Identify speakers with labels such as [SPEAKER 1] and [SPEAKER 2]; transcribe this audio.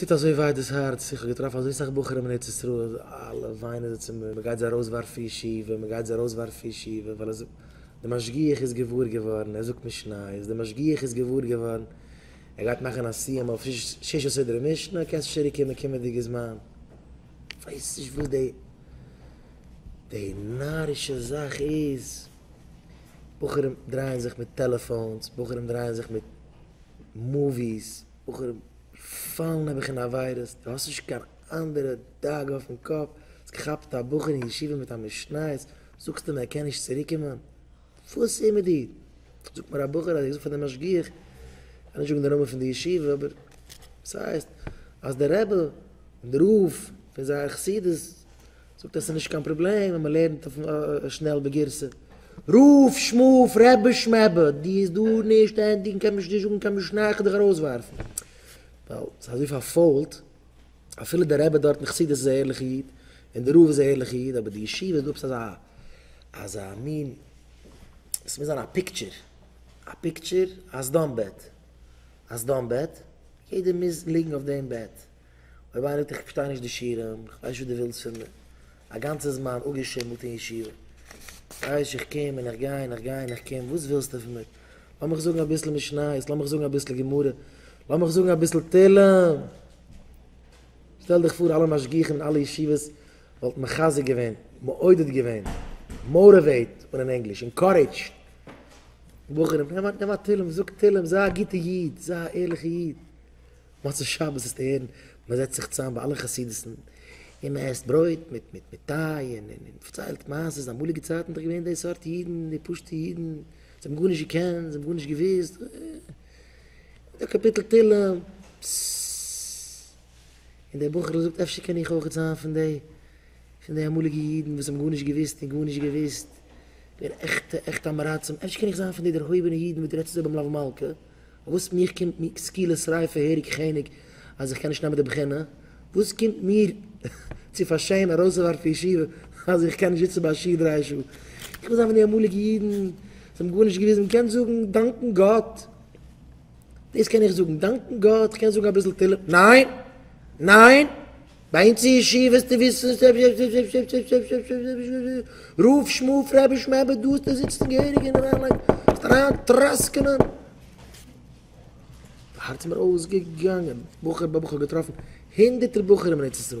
[SPEAKER 1] טוט אזוי וויי דאס הארץ, איך האב געטראפן אזוי סאך בחורים אין ארץ ישראל, אלע וויינען זיי צו מיר, מען גייט זיי ארויסווארפן פון ישיבה, מען גייט זיי ארויסווארפן פון ישיבה, ווייל ער זאגט, דער משגיח איז געוואר געווארן, ער זאגט נישט נייעס, דער משגיח איז געוואר געווארן, ער גייט מאכן א סיום אויף שישה סדרי משנה, קענסט צוריק קומען קומענדיגע זמן. איך ווייס נישט וואס די נארישע זאך איז. בחורים דרייען זיך מיט טעלעפאונס, בחורים דרייען זיך מיט מאוויס, בחורים פאלן נעבעך אין עבירות, דו האסט נישט קיין אנדערע דאגה אויפן קאפ, האסט געכאפט א בחור אין ישיבה מיט א משניות, זאגסט אים ער קען נישט צוריקומען? וואס איז מיט דיר? זאגט מיר א בחור אז ער האט געזאגט פאר די משגיח, כ'וועל נישט זאגן די נאמען פון די ישיבה, אבער ס'הייסט אז די רבי און די רב פון זייער חסידות זאגט ער ס'איז נישט קיין פראבלעם ווען מ'לערנט אויף שנעל בגירסא. רוף שמוף רעבע שמעבע די איז דא נישט ענדיגן קען מען נישט זאגן קיין משנה איך וועל דיך ארויסווארפן ווייל ס'איז אזוי פארפוילט אפילו דער רבי דארט אין חסידות איז א ערליכע איד און דער רב איז א ערליכע איד אבער די ישיבה איז דא עפעס אזא אזא מין ס'מוז זיין א פיקטשער א פיקטשער א סדום בעט א סדום בעט יעדער מוז ליגן אויף דעם בעט. אויב איינער זאגט איך פארשטיי נישט די שירעם, איך ווייס נישט וואס דו ווילסט פון מיר, א גאנצע זמן אפגעשימלט אין ישיבה, כאיש איך קום און איך גיי און איך גיי און איך קום, וואס ווילסטו פון מיר? לאמיך זאגן אביסל משניות, לאמיך זאגן אביסל גמרא, לאמיך זאגן אביסל תהלים! שטעל דיך פאר אלע משגיחים אין אלע ישיבות וואלטן מחזק געווען, מעודד געווען, מאוטיוועט און אין ענגליש, אינקארעדזשד בחורים, נעם א תהלים, זאג תהלים, זיי א גוטע איד, זיי א ערליכע איד. מצות שבת וועסטו הערן, מען זעצט זיך צוזאם ביי אלע חסידות'ן און מען עסט ברויט מיט מיט טיי און מען פארציילט מעשה'ס, אמאליגע צייטן איז דאך געווען די סארט אידן, די פשוט'ע אידן, זיי האבן גארנישט געקענט, זיי האבן גארנישט געוואוסט, די קאפיטל תהילים, ססססס, און דער בחור'ל זאגט אפשר קען איך אויך זיין פון די, פון די אמאליגע אידן וואס האבן גארנישט געוואוסט און גארנישט געוואוסט, געווען עכטע עכטע אמעראצים, אפשר קען איך זיין פון די דערהויבענע אידן וואס דו רעדסט אזוי ביים לאו מלכה. וואס מיך קומט מיר סקילה שריפה העריג כאניג אז איך קען נישט נעמען די בחינה? וואס קומט מיר צו פאר שעה'ן ארויסצוווארפן ישיבה אז איך קען נישט זיצן ביי א שיעור דריי שעה? איך וויל זיין פון די אמאליגע אידן וואס האבן גארנישט געוואוסט און מ'קען זאגן דאנקן גאט. דאס קען איך זאגן, דאנקן גאט, איך קען זאגן אביסל תהלים, ניין! ניין! ביי אונז אין ישיבה וועסטו וויסן ס'איז רוף שמואף רבי שמעי' ביי דאס דא זיצן געהעריג און אריינלייגן וועסט אריין טראסקענען הארץ איז מיר אויסגעגאנגען בחור ביי בחור געטראפן הונדערטער בחורים אין ארץ ישראל